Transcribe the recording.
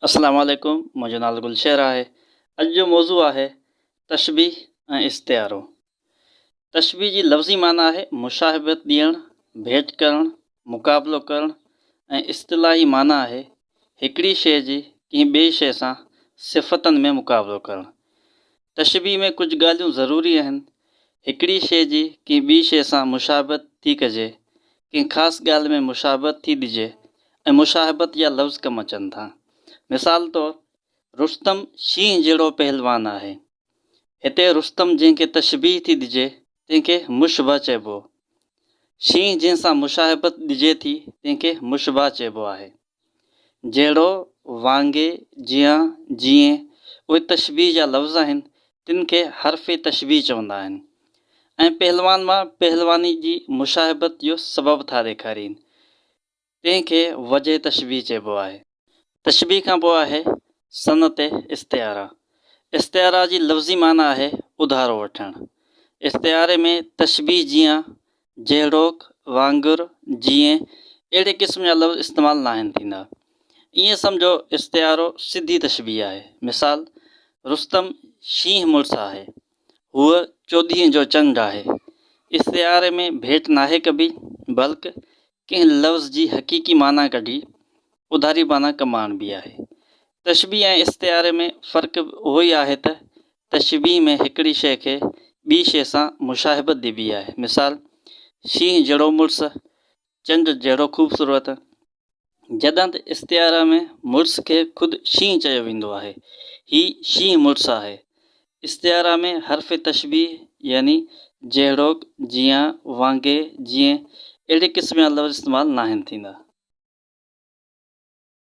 السلام عليڪم منهنجو نالو گلشهر آهي اڄ جو موضوع آهي تشبيھ ۽ استعارو تشبيھ جي لفظي معنيٰ آهي مشاهبت ڏيڻ ڀيٽ ڪرڻ مقابلو ڪرڻ ۽ اصطلاحي معنيٰ آهي هڪڙي شيء جي ڪنهن ٻئي شيء سان صفتن ۾ مقابلو ڪرڻ تشبيهه ۾ ڪجهه ڳالهيون ضروري آهن. هڪڙي شيء جي ڪنهن ٻي شيء سان مشابهت ٿي ڪجي، ڪنهن خاص ڳالهه ۾ مشابهت ٿي ڏجي ۽ مشاهبت جا لفظ ڪم اچن ٿا. مثال طور، رستم شينهن جهڙو پهلوان آهي. هتي رستم جنهن کي تشبيهه ٿي ڏجي، تنهن کي مشبهه چئبو. شينهن جنهن سان مشاهبت ڏجي ٿي، تنهن کي مشبهه چئبو آهي. جهڙو، وانگي، جيان، جيئن، اهي تشبيهه جا لفظ آهن، تن کي حرف تشبيهه چوندا آهن ۽ پهلوان مان پهلواني جي مشاهبت جو سبب ٿا ڏيکارين، تنهن کي وجه تشبيهه چئبو آهي. تشبيهه کان پوء آهي صنعت استعاره. استعاره جي لفظي معنيٰ آهي اڌارو وٺڻ. استعاري ۾ تشبيهه جيان جهڙوڪ، وانگر، جيئن، اهڙي قسم جا لفظ استعمال ناهن ٿيندا. ائين سمجهو استعارو سڌي تشبيهه آهي. مثال، رستم شينهن مڙس آهي. هوء چوڏهينء جو چنڊ آهي. استعاري ۾ ڀيٽ ناهي ڪبي، بلڪ ڪنهن لفظ جي حقيقي معنيٰ ڪڍي اوڌاري معنيٰ ڪم آڻبي آهي. تشبيهه ۽ استعاري ۾ فرق به اهو ئي آهي ته تشبيهه ۾ هڪڙي شيء کي ٻي شيء سان مشاهبت ڏبي آهي. مثال، شينهن جهڙو مڙس، چنڊ جهڙو خوبصورت. جڏهن ته استعاري ۾ مڙس کي خود شينهن چيو ويندو آهي. هي شينهن مڙس آهي. استعاره ۾ حرف تشبيهه يعني جهڙوڪ، جيان، وانگي، جيئن اهڙي قسم جا لفظ استعمال ناهن ٿيندا.